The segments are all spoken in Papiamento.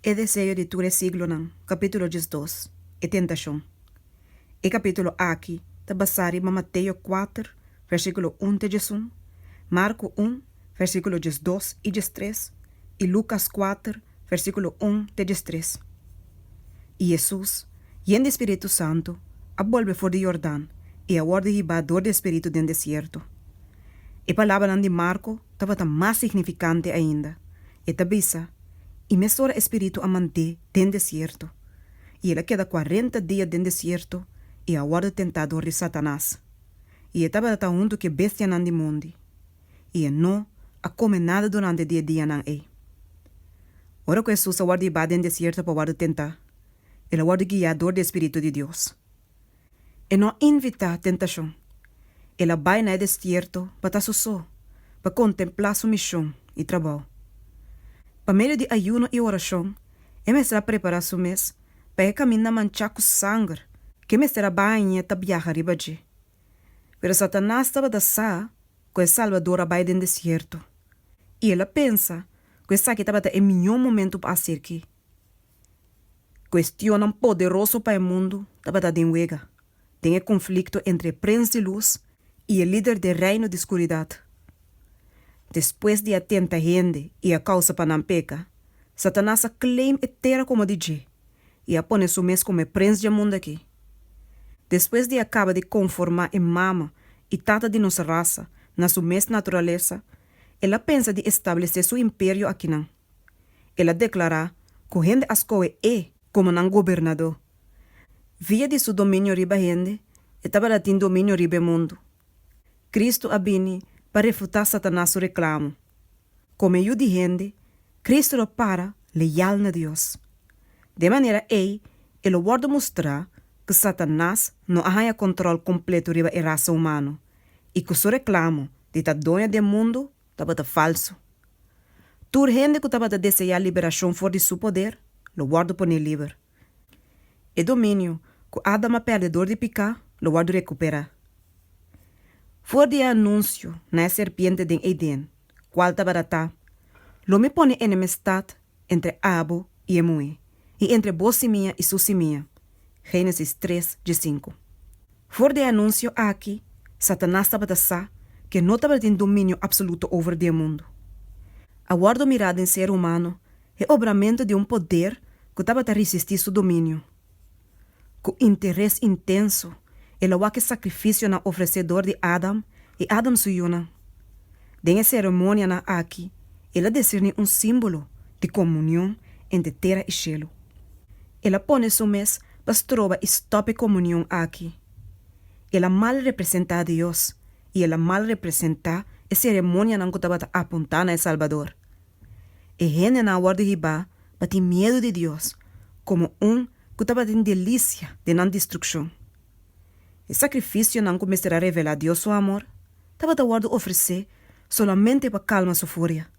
E deseo di tur e siglonan, capítulo diesdos, E tentacion. E capítulo aki ta basá riba Mateo kuater, versículo un te diesun, Marco un, versículo diesdos i diestres, i Lucas kuater, versículo un te diestres. I Jesus, yen di Spiritu Santu, a bolbe for di Yordan i a wòrdu hibá dor di e Spiritu den desierto. E palabranan di Marco tabata mas signifikante ainda. E ta bisa, I mesora e Spiritu a mant'é den desierto, i el a keda kuarenta dia den desierto i a wòrdu tentá dor di Satanas. I e tabata huntu ku e bestianan di mondi, i e no a kome nada durante di e dianan ei. Ora ku Hesus a wòrdu iba den desierto pa wòrdu tentá, el a wòrdu guiá dor di e Spiritu di Dios. E no a invitá tentashon. El a bai na e destierto pa ta sosó, pa kontemplá su mishon i trabou. Pa medio di ayuno i orashon, e mester a prepará su mes pa e kaminda manchá ku sanger ke mester a baña ta biaha riba dje. Pero Satanas tabata sa ku e Salbador a bai den destierto, i el a pensa ku esaki tabata e mihó momentu pa haser ki. Kuestionnan poderoso pa e mundu tabata den wega den e konflikto entre e prens di lus i e lider di e reino di skuridat. Despues di a tenta hende i a kousa pa nan peka, Satanas a claim e tera komo di dje i a pone su mes komo e prens dje mundu akí. Despues di a kaba di konformá e mama i tata di nos rasa na su mes naturalesa, el a pensa di establesé su imperio akinan. El a deklará ku hende a skohe e komo nan gobernadó. Via di su dominio riba hende, e tabata tin dominio riba e mundu. Kristu a bini pa refutá Satanas su reklamo. Kome Yu di hende, Kristu lo para leal na Dios. Den manera ei e lo wòrdu mustrá ku Satanas no a haña kòntròl kompletu riba e rasa humano i ku su reklamo di ta doño den mundu Tabata falsu. Tur hende ku tabata deseá liberashon for di su poder, lo wòrdu poné liber. E dominio ku Adam a pèrdè dor di piká lo wòrdu rekuperá. For di e anunsio na e serpiente den Eden, kual tabaratá, Lo mi pone enemestat entre abo i e muhé, i entre bo simia i su simia. Génesis tres dje sinku. For di e anunsio aki, Satanas tabata sa ku e no tabata tin dominio apsoluto over di e mundu. A wòrdu mirá den ser humano e obramentu di un poder ku tabata risistí su dominio. Ku interes intenso, el a wak e sakrifisionan ofresé dor di Adam i Adam su yunan. Den e seremonianan aki el a deserní un símbolo di komunion entre tera i shelu. El a pone su mes pa stroba i stòp e komunion aki. El a mal representá Dios i el a mal representá e seremonianan ku tabata apuntá na e Salbador. E hendenan awor di hibá pa tin miedu di Dios komo un ku tabatin delisia den nan destrukshon. E sakrifisionan ku mester a revelá Dios su amor tabata wòrdu ofresé solamente pa kalma su furia.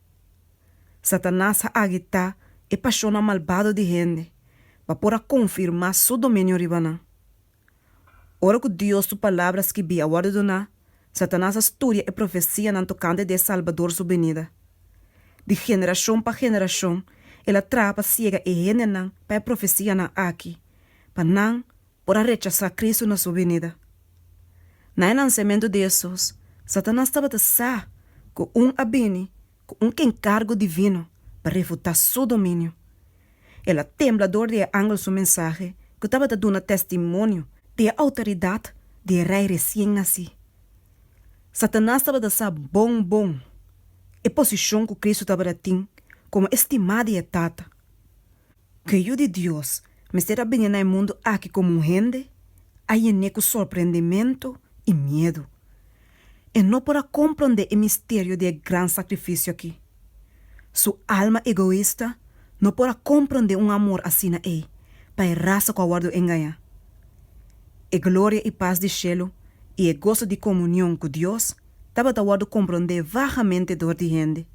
Satanas a agitá e pashonnan malbado di hende pa por a konfirmá su dominio riba nan. Ora ku Dios su Palabra skibí a wòrdu duná, Satanas a studia e profesianan tokante di e Salbador su binida. Di generashon pa generashon el a traha pa siega e hendenan pa e profesianan akí, pa nan por a rechasá Kristu na su binida. Na e nansementu di Hesus, Satanas tabata sa ku un a bini cu un encargo divino pa refuta su dominio. El a tembla dor di e angel su mensahe cu tabata duna testimonio di e autoridad di e Rey recien naci. Satanas tabata sa bon bon e posicion cu Cristo tabata tin como estima di e Tata. Ku e yu di Dios mester a bini na e mundu aki komo un hende a yené ku sorprendementu i miedu. E no por a komprondé e misterio di e gran sakrifisio aki. Su alma egoista no por a komprondé un amor asina ei pa e rasa ku a wòrdu engañá. E gloria i pas di shelu i e goso di komunion ku Dios tabata wòrdu komprondé vagamente dor di hende.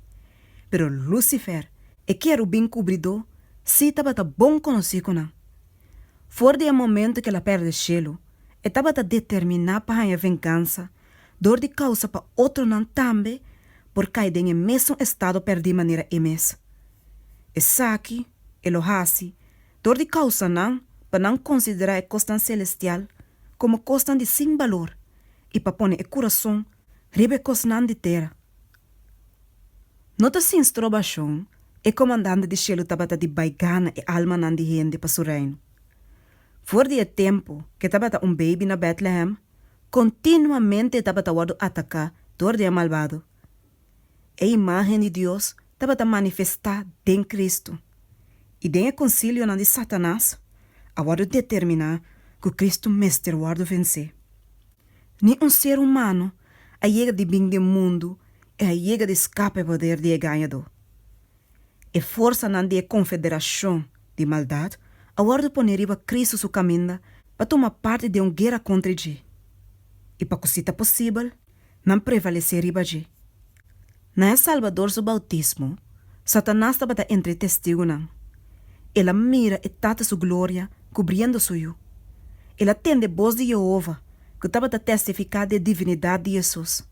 Pero Lucifer, e kerubin kubridó, sí tabata bon konosí ku nan. For di e momentu ku el a pèrdè shelu, e tabata determiná pa haña vengansa dor di kousa pa otronan tambe por kai den e mesun estado pèrdí manera e mes. Esaki e lo hasi dor di kousa nan pa nan konsiderá e kosnan selestial komo kosnan di sin balor i pa pone e kurason riba e kosnan di tera. No ta sin strobashon, e Komandante di Shelu tabata di bai gana e almanan di hende pa su Reino. For di e tempu ku e tabata un beibi na Bètlehem, kontinuamente e tabata wòrdu ataká dor di e malbado. E imágen di Dios tabata manifestá den Kristu, i den e konsilionan di Satanas a wòrdu determiná ku Kristu mester wòrdu vensé. Ni un ser humano a yega di bin den mundu e a yega di scapa e poder di e gañadó. E forsanan di e confederacion di maldad a wordo pone riba Cristo su caminda pa tuma parti den un guera contra dje. I pa cu si ta posibel, nan prevalece riba dje. Na e Salbador su bautismo, Satanas tabata entre e Testigunan. El a mira e Tata su gloria kubriendo su yu. El a tende bos di Yehova ku tabata testifiká di e divinidat di Hesus.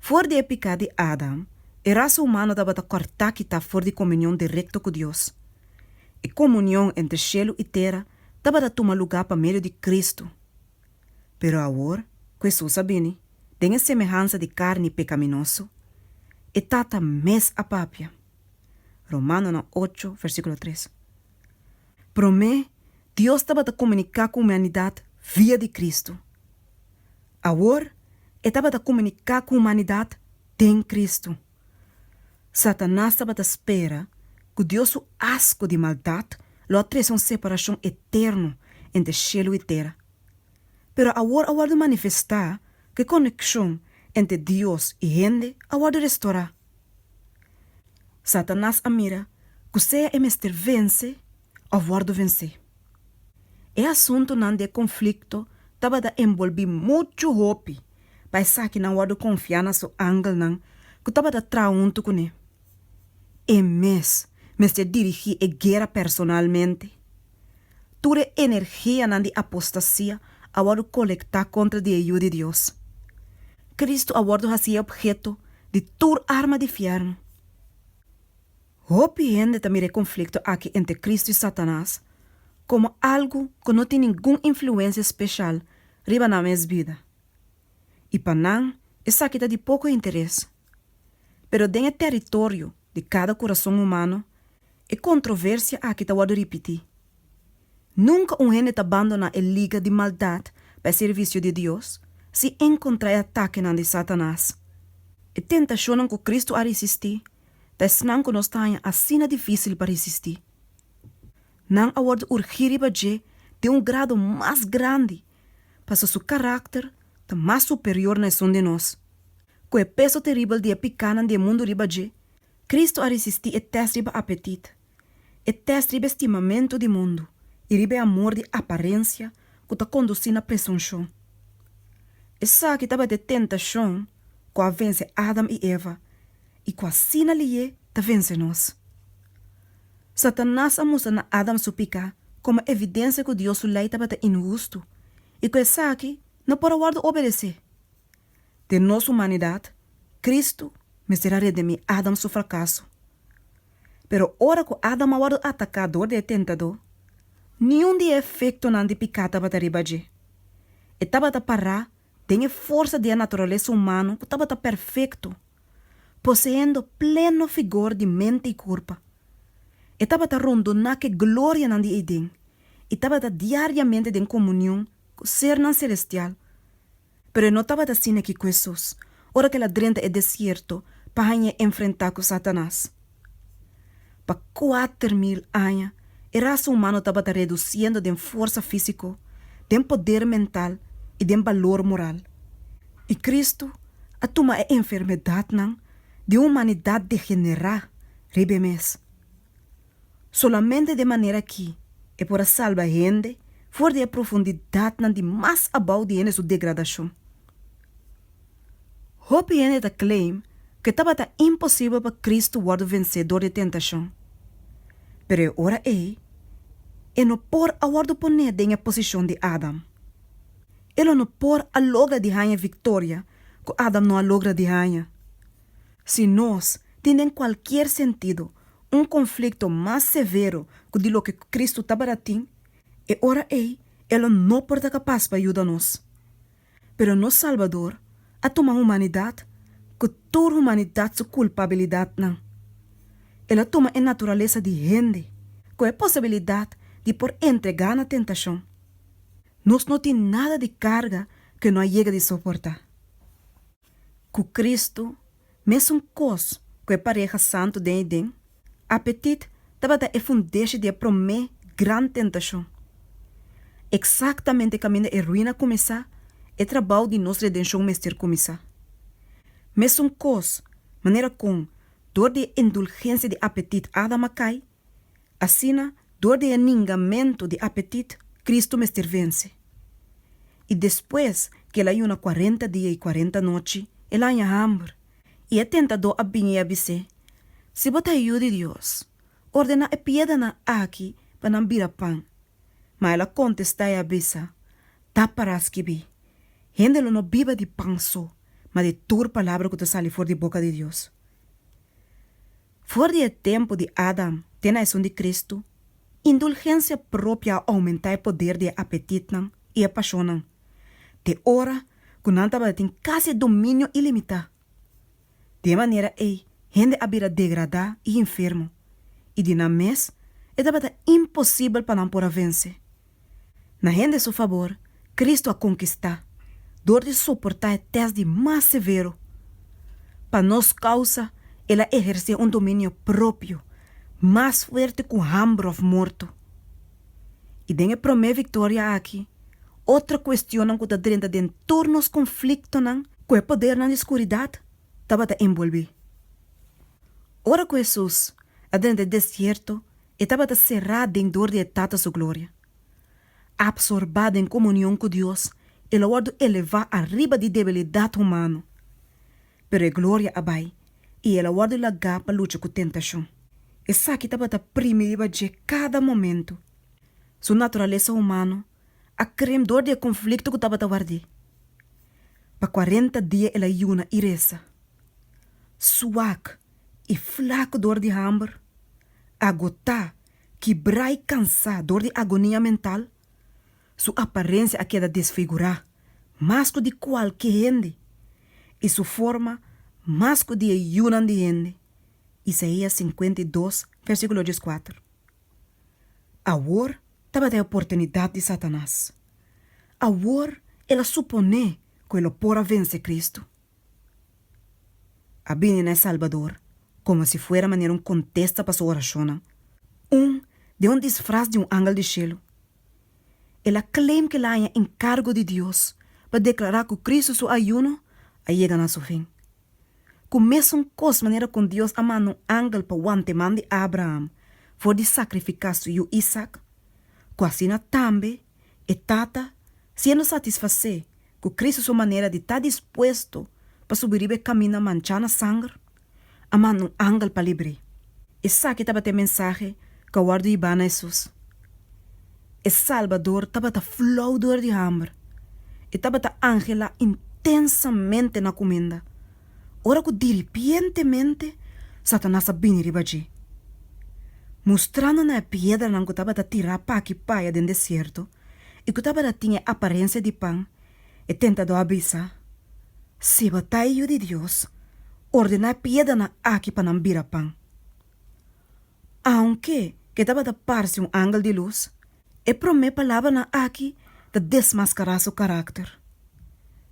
For di e piká di Adam, e rasa humano tabata kòrtá kitá for di komunion direkto ku Dios. E komunion entre shelu i tera tabata tuma lugá pa medio di Kristu. Pero awor ku Hesus a bini den e semehansa di karni pekaminoso, e Tata mes a papia. Romanonan ocho, versíkulo tres. Promé, Dios tabata komuniká ku humanidat via di Kristu. Awor, E tabata komuniká ku humanidat den Kristu. Satanas tabata spera ku Dios su asko di maldat lo a trese un separashon eterno entre shelu i tera. Pero awor a wòrdu manifestá ku e konekshon entre Dios i hende a wòrdu restorá. Satanas a mira ku sea e mester vense òf wòrdu vensé. E asuntunan di e konflikto tabata enbolbí muchu hopi pa esaki nan wòrdu konfiá na su angelnan ku tabata traha huntu kuné. E mes mester dirigí e guera personalmente. Tur e energianan di apostasia a wòrdu kolektá kontra di e Yu di Dios. Kristu a wòrdu hasi e opheto di tur arma di fièrnu. Hopi hende ta mira e konflikto akí entre Kristu i Satanas komo algu ku no tin ningun influensia speshal riba nan mes bida. I pa nan esaki ta di poko interes. Pero den e tèritorio di kada kurason humano, e kontroversia akí ta wòrdu ripití. Nunka un hende ta bandoná e liga di maldat pa e servisio di Dios sin enkontrá e atakenan di Satanas. E tentashonnan ku Kristu a risistí pa esnan ku nos ta haña asina difísil pa resistí. Nan a wòrdu urgí riba dje den un grado mas grandi pasobra su karakter ta mas superior na esun di nos. Ku e peso teribel di e pikánan di e mundu riba dje, Kristu a resistí e tèst riba apetit. E tèst riba e stimamentu di mundu i riba e amor di aparensia ku ta kondusí na presunshon. Esaki tabata e tentashon ku a vense Adam i Eva i ku asina liye ta vense nos. Satanas a mustra na Adam su piká komo evidensia ku Dios su lei tabata inhustu i ku esaki no por a wòrdu obedesé. Den nos humanidat, Kristu mester a redimí Adam su frakaso. Pero ora ku Adam a wòrdu ataká dor di e tentadó, niun di e efektonan di piká tabata riba dje. E tabata pará den e forsa di e naturalesa humano ku tabata perfekto, poseendo pleno figor di mente i kurpa. E tabata rondoná ku e glorianan di Eden i tabata diariamente den komunion ku sernan selestial. Pero e no tabata asina aki ku Hesus, ora ku el a drenta e desierto pa haña e enfrentá ku Satanas. Pa kuater mil aña, e rasa humano tabata redusiendo den forsa físiko, den poder mental i den balor moral. I Kristu a tuma e enfermedatnan di un humanidat degenerá riba e mes. Solamente den manera akí e por a salba hende for di e profundidatnan di mas abou di hende su degradashon. Hopi hende ta claim ku e tabata imposibel pa Kristu wòrdu vensedor di e tentashon, pero e ora ei e no por a wòrdu poné den e posishon di Adam. E lo no por a logra di haña e viktoria ku Adam no a logra di haña. Si nos tin den kualkier sentido un konflikto mas severo ku di loke ku Kristu tabata tin, e ora ei e lo no por ta kapas pa yuda nos. Pero nos Salbador a tuma humanidat ku tur humanidat su kulpabilidatnan. El a tuma e naturalesa di hende ku e posibilidat di por entregá na tentashon. Nos no tin nada di karga ku e no a yega di soportá. ku Kristu, mesun kos ku e pareha santu den Eden, apetit tabata e fundeshi di e promé gran tentashon. Eksaktamente kaminda e ruina kuminsá, e trabou di nos redenshon mester kuminsá. Mesun kos manera kon dor di e endulgensia di apetit Adam a kai, Asina, dor di e ningamentu di apetit, Kristu mester vense. I despues ku el a yuna kuarenta dia i kuarenta nochi, el a haña hamber. I e tentadó a bin i a bis'é, Si bo ta Yu di Dios, ordená e piédranan aki pa nan bira pan. Ma el a kontestá i a bisa, Ta pará skibí, Hende lo no biba di pan so, ma di tur palabra ku ta sali for di boka di Dios. For di e tempu di Adam te na esun di Kristu, indulgensia propia a oumentá e poder di e apetitnan i e pashonnan te ora ku nan tabata tin kasi e dominio ilimitá. Di e manera ei hende a bira degradá i infermo, i di nan mes e tabata imposibel pa nan por a vense. Na hende su fabor, Cristo a conquista dor di soporta e test di mas severo. Pa nos causa El a eherce un dominio propio mas fuerte cu hamber of morto. Y den e prome victoria aki, otro cuestionnan cu ta drenta den tur nos conflictonan cu e podernan di scuridad tabata enbolbe. Ora cu Jesus a drenta e desierto E tabata será den dor di e Tata su gloria. Absorbá den komunion ku Dios, el a wòrdu elevá ariba di debilidat humano. Pero e gloria a bai i el a wòrdu lagá pa lucha ku tentashon. Esaki tabata primi riba dje kada momentu. Su naturalesa humano a krem dor di e konflikto ku tabata ward'é. Pa kuarenta dia el a yuna i resa. Suak i flaku dor di hamber, agotá, kibrá i kansá dor di agonia mental, su aparensia a keda desfigurá mas ku di kualke hende i su forma mas ku di e yunan di hende. Isaia sinkuenta i dos, versíkulo dies kuater. Awor tabata e oportunidat di Satanas. Awor el a suponé ku e lo por a vense Kristu. a bini na e Salbador como si fuera manera un contesta pa su oracionnan, un den un disfraz di un angel di cielo. El a claim cu el a haña encargo di Dios pa declara cu Cristo su ayuno a yega na su fin. Cu mesun cos manera con Dios a manda un angel pa wanteman di Abraham for di sacrifica su yu Isaac, cu asina tambe, E Tata, siendo satisfacé cu Cristo su manera di ta dispuesto pa subi riba e camina manchá na sanger, a manda un angel pa libr'é. Esaki tabata e mensahe cu a wordo yibá na Jesús. E Salbador tabata flou dor di hamber. E tabata anhelá intensamente na cuminda. ora ku diripientemente Satanas a bini riba dje, mustrando na e piedranan ku tabata tirá p'aki p'aya den desierto i ku tabata tin e aparensia di pan, e tentadó a bisa, Si bo ta e Yu di Dios, ordená e piedranan aki pa nan bira pan. Aunke ke tabata parse un angel di lus, e promé palabranan akí ta desmaskará su karakter.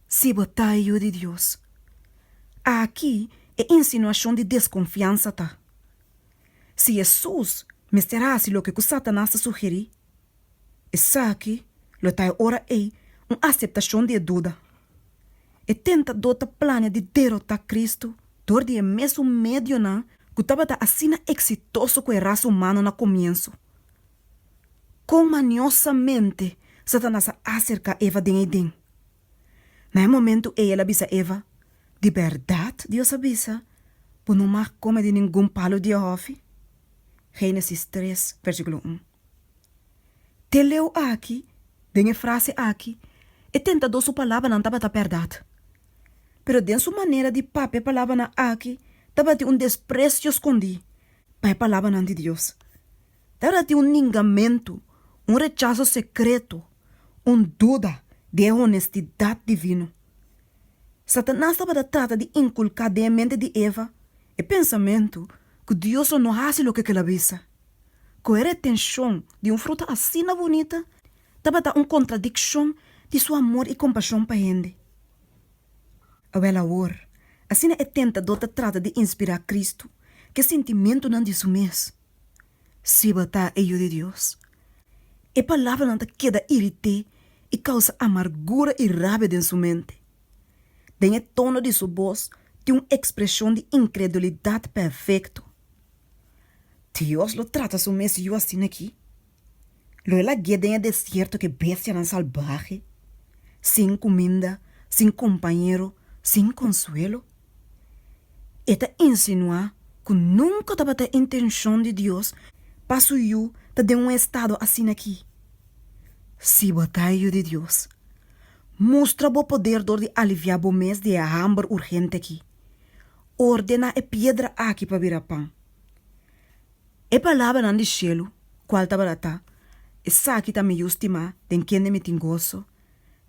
Si bo ta e Yu di Dios. Akí e insinuashon di deskonfiansa ta. Si Hesus mester hasi loke ku Satanas ta sugerí. Esaki lo ta e ora ei un aseptashon di e duda. E tentadó ta plania di derotá Kristu dor di e mesun medionan ku tabata asina eksitoso ku e rasa humano na komiensu. Kon maniosamente Satanas a aserká Eva den ei den? Na e momentu ei el a bisa Eva, Di bèrdat Dios a bisa, Bo no mag kome di ningun palu di e hòfi? Génesis tres, versíkulo un. Te leu aki, den e frase aki, e tentadó su palabranan tabata bèrdat. Pero den su manera di papia e palabranan aki tabatin un despresio skondí pa e palabranan di Dios. Tabatatin un ningamentu, un rechaso sekreto, un duda di e honestidat divino. Satanas tabata trata di inkulká den e mente di Eva e pensamentu ku Dios lo no hasi loke kel a bisa. ku e retenshon di un fruta asina bunita tabata un kontradikshon di su amor i kompashon pa hende. Awor awor, asina e tentador ta trata di inspirá Kristu ku e sintimentunan di su mes. Siba ta e Yu di Dios, e palabranan ta keda irit'é i kousa amargura i rabia den su mente. Den e tono di su bos tin un ekspreshon di inkredulidat pèfekto. Dios lo trata su mes yu asina aki. Lo e lag'é den e desierto ku e bestianan salbahe, sin kuminda, sin kompañero, sin konsuelo. E ta insinuá ku nunka tabata e intenshon di Dios pa su yu ta den un estado asina aki. Si bo ta e yu di Dios, mustra bo poder dor di aliviá bo mes di e hamber urgente aki. Ordena e piedra aki pa bira pan. E palabranan di shelu kual tabata ta, Esaki ta mi Yu stimá, den kende mi tin goso,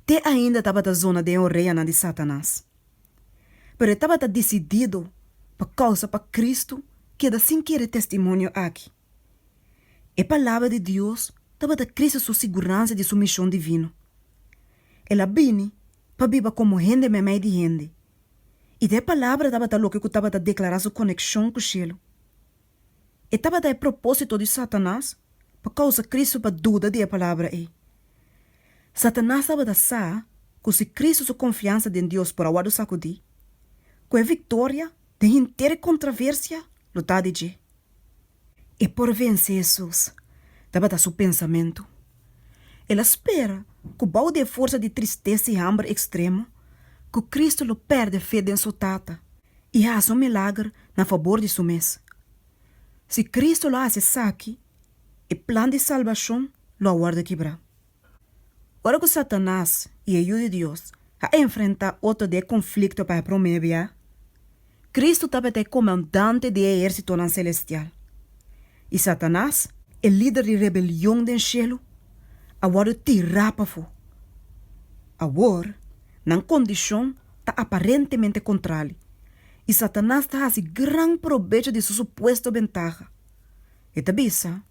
te ainda tabata zona den e oreanan di Satanas. Pero e tabata disidido pa kousa pa Kristu keda sin kere testimonio aki. E Palabra di Dios tabata krese su siguransa di su mishon divino. El a bini pa biba komo hende memei di hende. i dje palabra tabata loke ku tabata deklará su konekshon ku shelu. E tabata e propósito di Satanas pa kousa Kristu pa duda di e palabra ei. Satanas tabata sa ku si Kristu su konfiansa den Dios por a wòrdu sakudí, ku e viktoria den henter e kontraversia lo ta di dje. e por vensé Jesús, tabata su pensamentu. El a spera ku bou di e forsa di tristesa i hamber ekstremo, ku Kristu lo pèrdè fe den su Tata i hasi un milager na fabor di su mes. Si Kristu lo hasi esaki, e plan di salbashon lo a wòrdu kibrá. Ora ku Satanas i e Yu di Dios a enfrentá otro di e konflikto pa e promé bia, Kristu tabata e komandante di e ehérsitonan selestial. I Satanas, e lider di rebelion den shelu, a wòrdu tirá pafó. Awor, nan kondishon ta aparentemente kontrali, i Satanas ta hasi gran probecho di su supuesto bentaha. E ta bisa.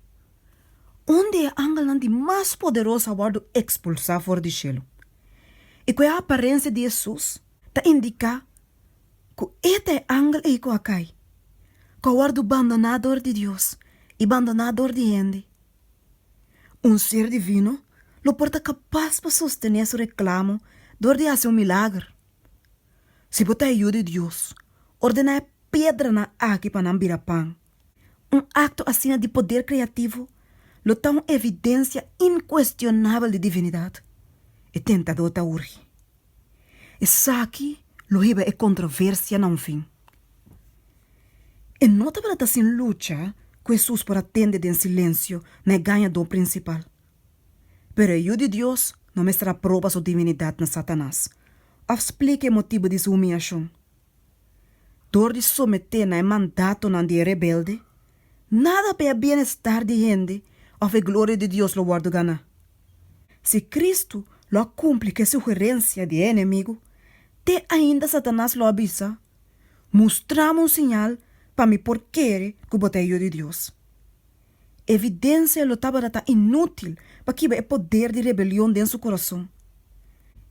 Unda e angelnan di mas poderoso a wòrdu ekspulsá for di shelu? I ku e aparensia di Hesus ta indiká ku e ta e angel ei ku a kai, ku a wòrdu bandoná dor di Dios i bandoná dor di hende. Un ser divino lo por ta kapas pa sostené su reklamo dor di hasi un milager. Si bo ta e Yu di Dios, ordená e pedranan aki pa nan bira pan. Un akto asina di poder kreativo lo ta un evidensia inkuestionabel di divinidat. E tentadó ta urgi. Esaki lo hiba e kontroversia na un fin. E no tabata ta sin lucha ku Hesus por a tende den silensio na e gañadó prinsipal. Pero e Yu di Dios no mester a proba su divinidat na Satanas òf splika e motibu di su humiashon. Dor di someté na e mandatonan di e rebelde, nada pa e bienestar di hende òf e gloria di Dios lo wòrdu ganá. Si Kristu lo a kumpli ku e sugerensia di e enemigu, te ainda Satanas lo a bisa, Mustrámi un siñal pa mi por kere ku bo ta e Yu di Dios. Evidensia lo tabata ta inútil pakiba e poder di rebelion den su kurason.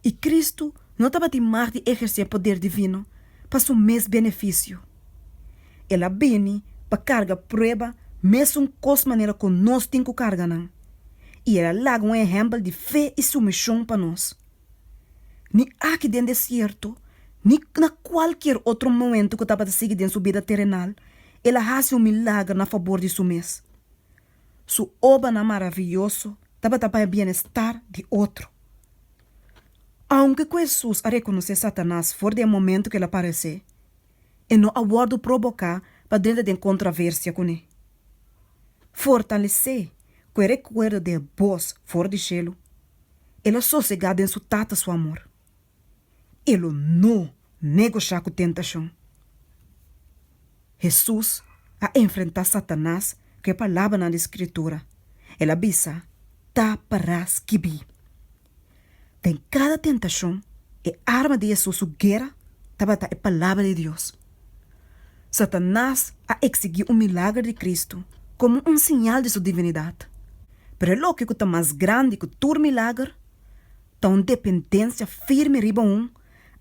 I Kristu no tabatin mag di ehersé poder divino pa su mes benefisio. El a bini pa karga prueba mesun kos manera ku nos tin ku karga nan, i el a laga un ehèmpel di fe i sumishon pa nos. Ni aki den desierto ni na kualkier otro momentu ku tabata sigui den su bida terenal, El a hasi un milager na fabor di su mes. Su obanan maravioso tabata paña bienestar di otro. Aunke ku Hesus a rekonosé Satanas for di e momentu ku el a pares'é, e no a wòrdu proboká pa drenta den kontraversia kuné. Fortalesé ku e rekuerdo di e bos for di shelu, el a sosegá den su Tata su amor. e lo no negoshiá ku tentashon. Hesus a enfrentá Satanas ku e palabranan di Skritura. El a bisa, Ta pará skibí. Den kada tentashon, e arma di Hesus su guera tabata e Palabra di Dios. Satanas a eksigí un milager di Kristu komo un siñal di su divinidat. Pero e loke ku ta mas grandi ku tur milager, ta un dependensia firme riba un,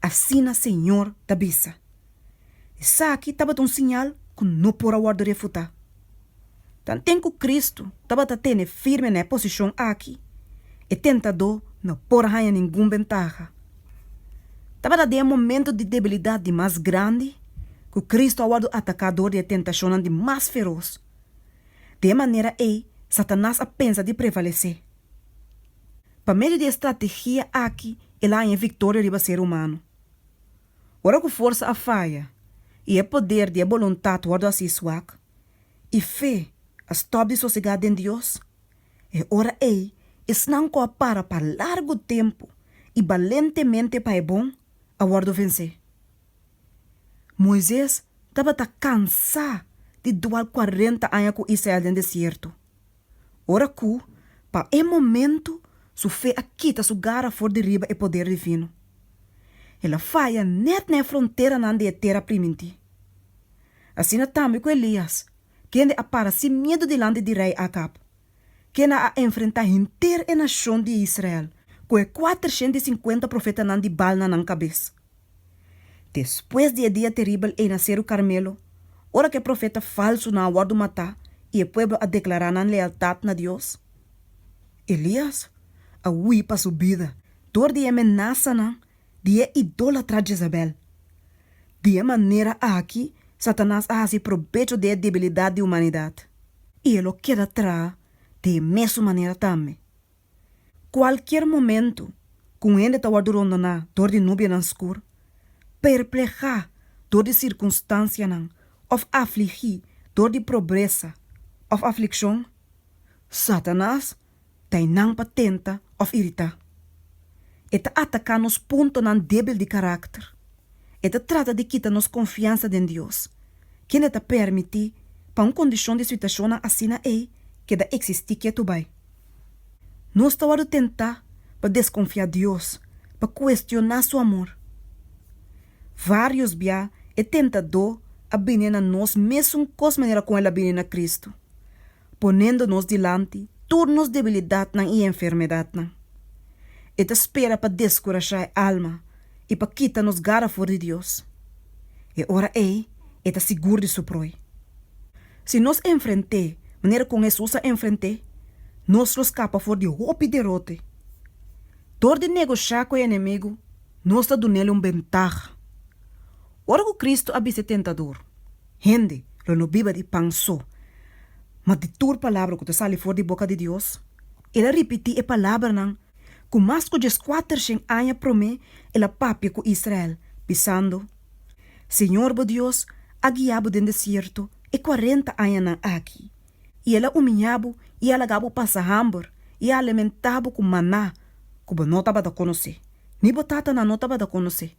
asina Señor ta bisa. Esaki tabata un siñal ku no por a wòrdu refutá. Tanten ku Kristu tabata tene firme na e posishon aki, e tentadó no por a haña ningun bentaha. Tabata den e momentu di debilidat di mas grandi ku Kristu a wòrdu ataká dor di e tentashonnan di mas feros. Den e manera ei, Satanas a pensa di prevalesé. Pa medio di e strategia aki el a haña e victoria riba ser humano. Ora cu forsa a faya y e poder di e boluntad wordo haci swak y fe a stop di sosega den Dios, e ora ey esnan cu a para pa largu tempu y balentemente pa e bon a wordo vense. Moises tabata cansa di dual cuarenta aña cu Israel den desierto. ora ku, pa e momentu, su fe a kita su gara for di riba e poder divino. El a faya nèt na e fronteranan di e tera primintí. Asina tambe ku Elías, kende a para sin miedu dilanti di rei Akab, ken a a enfrentá henter e nashon di Israel ku e kuatershent i sinkuenta profetanan di Baal na nan kabes. Despues di e dia teribel ei na Seru Karmelo, ora ku e profeta falsunan a wòrdu matá i e pueblo a deklará nan lealtat na Dios, Elias a hui pa su bida dor di e menasanan di e idólatra Jezabèl. Di e manera aki Satanas a hasi probecho di e debilidat di humanidat, i e lo keda traha di e mesun manera tambe. Kualkier momentu ku un hende ta wòrdu rondoná dor di nubianan skur, perplehá dor di sirkunstansianan òf afligí dor di probresa òf aflikshon, Satanas ta einan pa tenta òf iritá. E ta ataká nos puntonan débil di karakter. E ta trata di kita nos konfiansa den Dios. kende ta permití pa un kondishon di situashonnan asina ei keda eksistí ketu bai. Nos ta wòrdu tentá pa deskonfiá Dios, pa kuestioná su amor. Vários bia e tentadó a bini na nos mesun kos manera kon el a bini na Kristu. ponendo nos dilanti tur nos debilidatnan i enfermedatnan. E ta spera pa deskurashá e alma i pa kita nos gara for di Dios. E ora ei e ta sigur di su proi. Si nos enfrent'é manera kon Hesus a enfrent'é, nos lo skapa for di hopi derote. Dor di negoshá ku e enemigu, nos ta dun'el un bentaha. Ora ku Kristu a bist'é tentador, hende lo no biba di pan so, ma di tur palabra ku ta sali for di boka di Dios. El a ripití e palabranan ku mas ku djeskuatershen aña promé el a papia ku Israel, bisando, Señor bo Dios a guia bo den desierto e kuarenta añanan aki, i el a umiñá bo i a laga bo pasa hamber, i a alimentá bo ku maná ku bo no tabata konosé, ni bo tatanan no tabata konosé.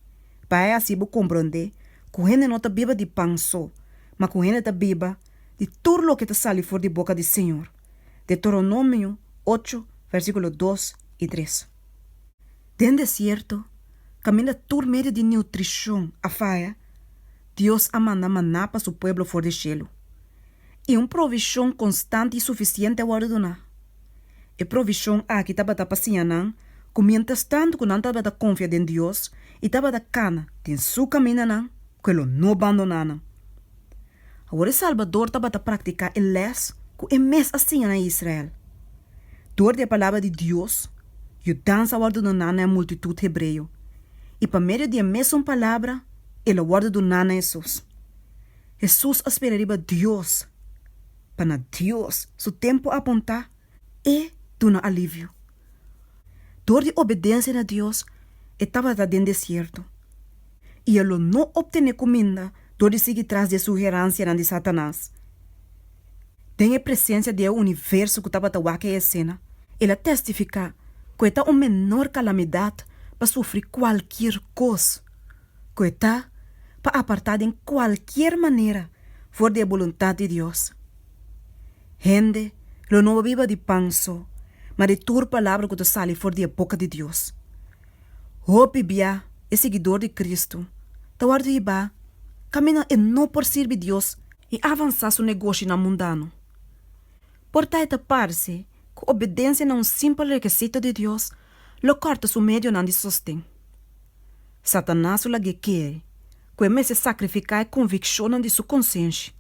Bai así bo komprondé ku hende no ta biba di pan so, ma ku hende ta biba di tur loke ta sali for di boka di Señor. Deuteronomio ocho, versíkulo dos i tres. Den desierto, kaminda tur medio di nutrishon a faya, Dios a manda maná pa su pueblo for di shelu. i un provishon konstant i sufisiente a wòrdu duná. E provishon aki tabata pa siña nan ku miénterstant ku nan tabata konfia den Dios i tabata kana den Su kamindanan, ku E lo no bandoná nan. Awor e Salbador tabata praktiká e lès ku E mes a siña na e Israel. Dor di e palabra di Dios, yudansa a wòrdu duná na e multitut hebreo, i pa medio di e mesun palabra, el a wòrdu duná na Hesus. Hesus a spera riba Dios pa na Dios su tempu apuntá E duna aliviu. Dor di obedensia na Dios E tabata den desierto i E lo no optené kuminda dor di sigui tras di e sugeransianan di Satanas. Den e presensia di e universo ku tabata wak e esena, el a testifiká ku e ta un menor kalamidat pa sufri kualkier kos. ku e ta pa apartá den kualkier manera for di e boluntat di Dios. Hende lo no biba di pan so, ma di tur palabra ku ta sali for di e boka di Dios. Hopi bia e siguidor di Kristu ta wòrdu hibá kaminda e no por sirbi Dios i avansá su negoshinan mundano. Por ta e ta parse ku obedensia na un simpel rekesito di Dios lo kòrta su medionan di sosten. Satanas lo lagu'é kere ku e mester sakrifiká e konvikshonnan di su konsenshi.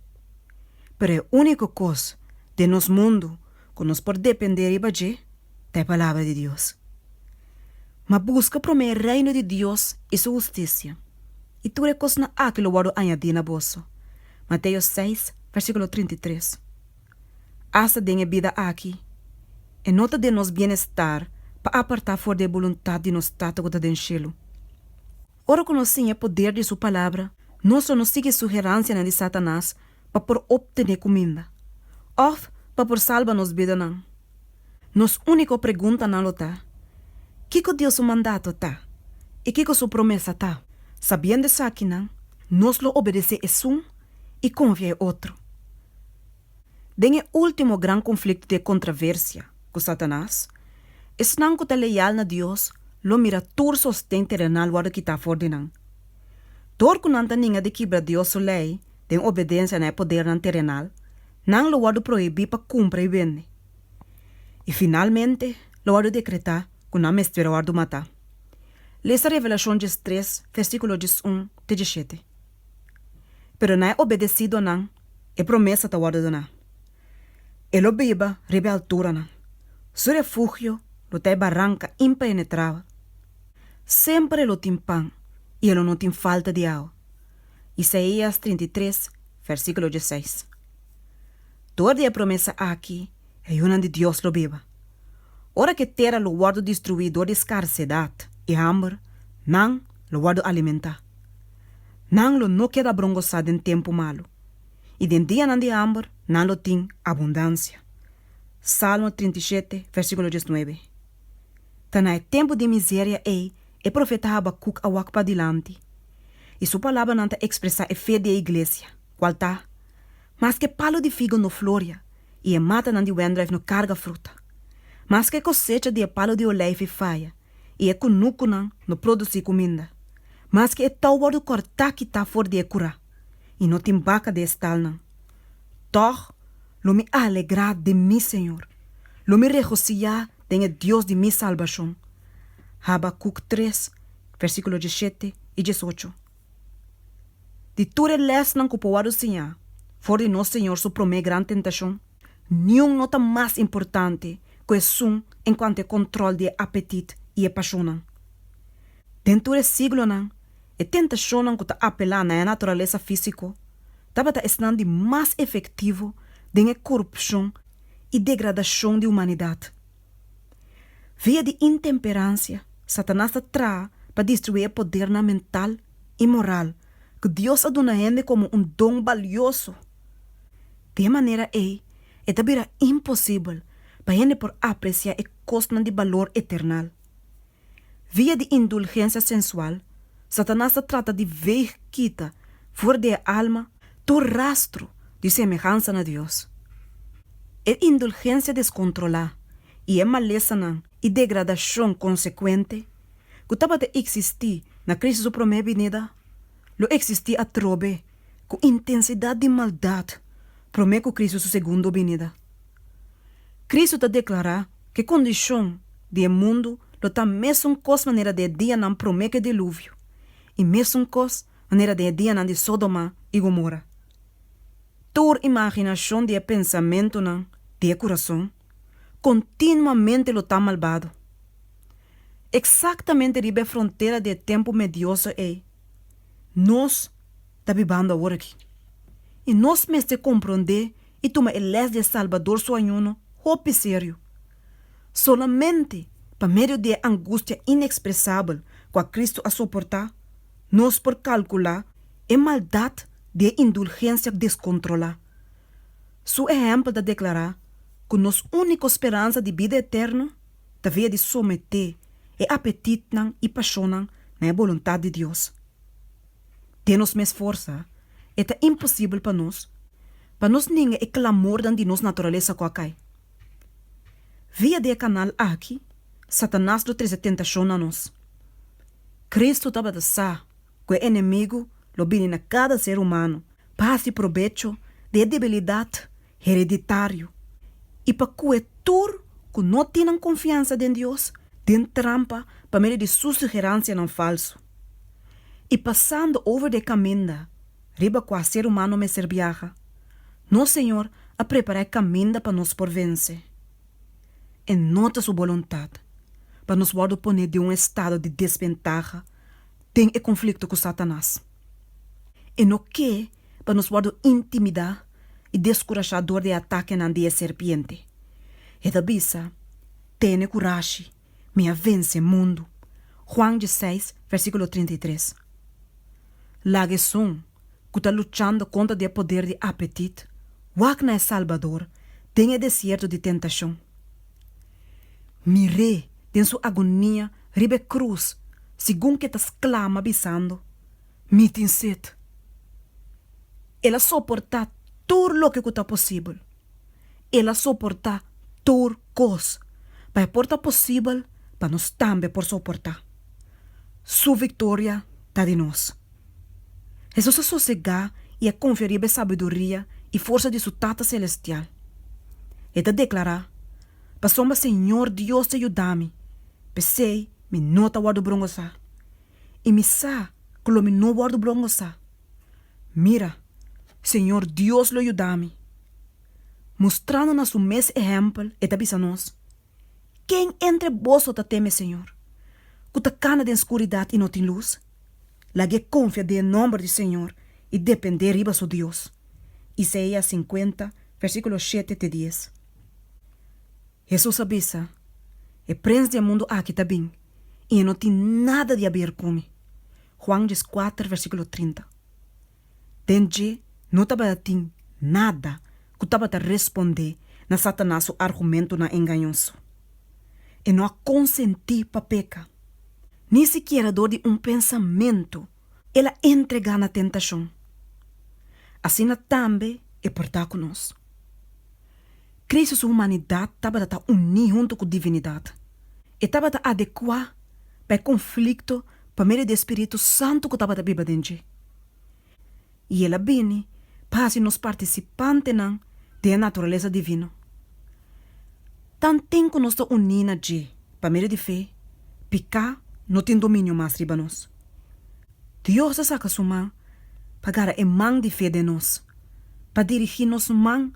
Pero e úniko kos den nos mundu ku nos por dependé riba dje ta e Palabra di Dios. Ma buska promé e Reino di Dios i su hustisia, i tur e kosnan akí lo wòrdu añadí na boso. Mateo seis, versíkulo trinta i tres. Asta den e bida aki, e no ta den nos bienestar pa apartá for di e boluntat di nos Tata ku ta den shelu. Ora ku nos siña e poder di su Palabra, no so no sigui sugeransianan di Satanas pa por optené kuminda òf pa por salba nos bidanan. Nos úniko preguntanan lo ta, Kiko Dios su mandato ta? I kiko su promesa ta? Sabiendo esakinan, nos lo obedesé esun i konfia e otro. Den e último gran konflikto di e kontraversia ku Satanas, esnan ku ta leal na Dios lo mira tur sosten terenal wòrdu kitá afor di nan. Dor ku nan ta ninga di kibra Dios su lei den obedensia na e podernan terenal, nan lo wòrdu prohibí pa kumpra i wende. I finalmente lo wòrdu dekretá ku nan mester wòrdu matá. Lesa Revelashon djestres, vèrsíkulo djesun te djeshete. pero na e obedesí donan e promesa ta wòrdu doná. E lo biba riba e alturanan, su refugio lo ta e baranka impenetrabel. Semper e lo tin pan i e lo no tin falta di awa. Isaías trinta i tres, versíkulo dieseis. Dor di e promesa aki, E yunan di Dios lo biba. Ora ku e tera lo wòrdu destruí dor di skarsedat i hamber, nan lo wòrdu alimentá. Nan lo no keda brongosá den tempu malu, i den dianan di hamber nan lo tin abundansia. Salmo trinta i shete, versíkulo dies nuebe. Ta na e tempu di miseria ei e profeta Habakuk a wak padilanti, i su palabranan ta ekspresá e fe di e iglesia, kual ta, Maske palu di figu no floria i e matanan di wendruif no karga fruta, maske e kosecha di e palu di oleifi faya i e kunukunan no produsí kuminda, maske e tou wòrdu kòrtá kitá for di e kurá i no tin baka den e stalnan, tòg lo mi alegrá den mi señor, lo mi regosiyá den e Dios di mi salbashon. Habakuk tres, vèrsikulo djeshete i djesocho. di tur e lèsnan ku por wòrdu siñá for di nos Señor su promé gran tentashon, niun no ta mas importante ku esun en kuanto e kòntròl di e apetit i e pashonnan. Den tur e siglonan, e tentashonnan ku ta apelá na e naturalesa físiko tabata esnan di mas efektivo den e korupshon i degradashon di humanidat. Via di intemperancia, Satanas ta traha pa destrui e podernan mental i moral cu Dios a duna hende como un don balioso. Di e manera ei, e ta bira imposibel pa hende por aprecia e cosnan di balor eternal. Via di indulgensia sensual, Satanas ta trata di veeg kita for di e alma tur rastro di semehansa na Dios. E indulgensia descontrolá i e malesanan i degradacion consecuente cu tabata existi na Cristo su promé binida lo existi atrobe cu intensidad di maldad promé cu Cristo su segundo binida. Cristo ta declara cu e condicion di e mundu lo ta mesun cos manera den e dianan prome cu e diluvio y mesun cos manera den e dianan di Sodoma y Gomorra. Tur imaginacion di e pensamentonan di e curazon continuamente lo ta malbado. Exactamente riba e frontera di e tempu medioso ey nos ta bibando awor aki y nos mester comprende i tuma e lès di e Salbador su ayuno hopi serio. Solamente pa medio di e angustia inexpresabel kua Kristu a soportá, nos por kalkulá e maldat di e indulgensia deskontrolá. Su ehèmpel ta deklará ku nos úniko speransa di bida eterno ta via di someté e apetitnan i pashonnan na e boluntat di Dios. den nos mes forsa, e ta imposibel pa nos pa nos ninga e klamornan di nos naturalesa ku a kai. Via di e kanal aki, Satanas lo trese tentashon na nos. Kristu tabata sa ku e enemigu lo bini na kada ser humano pa hasi probecho di e debilidat hereditario i pa kue tur ku no tin nan konfiansa den Dios den trampa pa medio di su sugeransianan falsu. I pasando over de e kaminda riba kua ser humano mester biaha, nos Señor a prepará e kaminda pa nos por vense. E no ta su boluntat pa nos wòrdu poné den un estado di desventaha den e konflikto ku Satanas. E no ke pa nos wòrdu intimidá i deskurashá dor di e atakenan di e serpiente. E ta bisa, Tene kurashi, mi a vense e mundu. Juan djeseis, versíkulo trinta i tres. Laga esun ku ta luchando kontra di e poder di apetit wak na e Salbador den e desierto di tentashon. Mir'é den su agonia riba e krus, segun ke ta sklama bisando, Mi tin set. El a soportá tur loke ku ta posibel. El a soportá tur kos pa e por ta posibel pa nos tambe por soportá. Su viktoria ta di nos. Hesus a sosegá i a konfia riba e sabiduria i forsa di su Tata selestial. E ta deklará, Pasobra Señor Dios ta yuda mi, p'esei mi no ta wòrdu brongosá. i mi sa ku lo mi no wòrdu brongosá. Mira, Señor Dios lo yuda mi, mustrando na su mes ehèmpel, e ta bisa nos, Ken entre boso ta teme Señor, ku ta kanda den skuridat i no tin lus? Lag'é konfia den e nòmber di Señor i dependé riba su Dios. Isaías sinkuenta, versíkulo shete te dies. Hesus a bisa, E prens di e mundu aki ta bin, i e no tin nada di haber ku mi. Juan dies kuater, versíkulo trinta. Den dje no tabata tin nada ku tabata respondé na Satanas su argumentunan engañoso. E no a konsentí pa peka, ni sikiera dor di un pensamentu. el a entregá na tentashon, asina tambe e por ta ku nos. Kristu su humanidat tabata ta uní huntu ku divinidat. E tabata adekuá pa e konflikto pa medio di e spiritu santu ku tabata biba den dje. i el a bini pa hasi nos partisipantenan den e naturalesa divino. Tanten ku nos ta uní na dje pa medio di fe, piká no tin dominio mas riba nos. Dios ta saka su man pa gara e man di fe den nos, pa dirigí nos man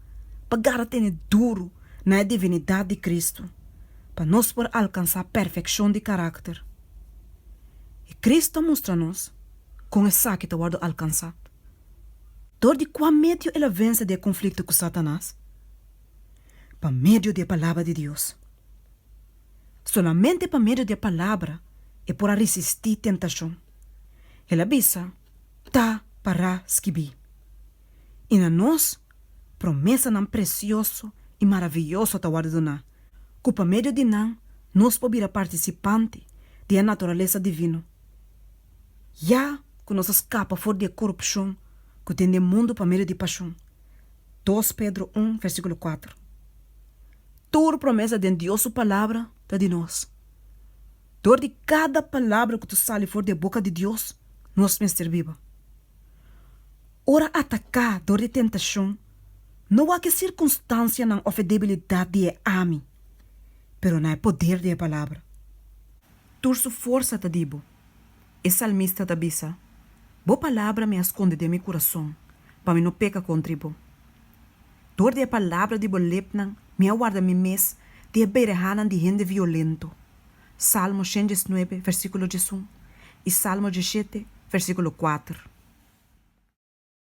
pa gara tene duru na e divinidat di Kristu, pa nos por alkansá perfekshon di karakter. I Kristu a mustra nos kon esaki ta wòrdu alkansá? Dor di kua medio el a vense di e konflikto ku Satanas? Pa medio di e Palabra di Dios. Solamente pa medio di e Palabra e por a risistí tentashon. El a bisa, Ta pará skibí. I na nos, promesanan presioso i maravioso ta wòrdu duná, ku pa medio di nan nos por bira partisipante di e naturalesa divino. Ya cu nos a scapa for di e corupcion cu tin den mundo pa medio di pasion. Dos Pedro un versiculo cuater Tur promesa den Dios su Palabra ta di nos. Dor di cada palabra cu ta sali for di e boca di Dios nos mester biba. Ora atacá dor di tentacion no wak e circunstancianan of e debilidad di e ami, pero na e poder di e Palabra. Tur su forsa ta di bo. E salmista ta bisa, Bo palabra mi a skonde den mi kurason, pa mi no peka kontra i bo. Dor di e palabra di bo lepnan mi a warda mi mes di e berehanan di hende violento. Salmo shen dies nuebe, versíkulo diesun, i Salmo dieshete, versíkulo kuater.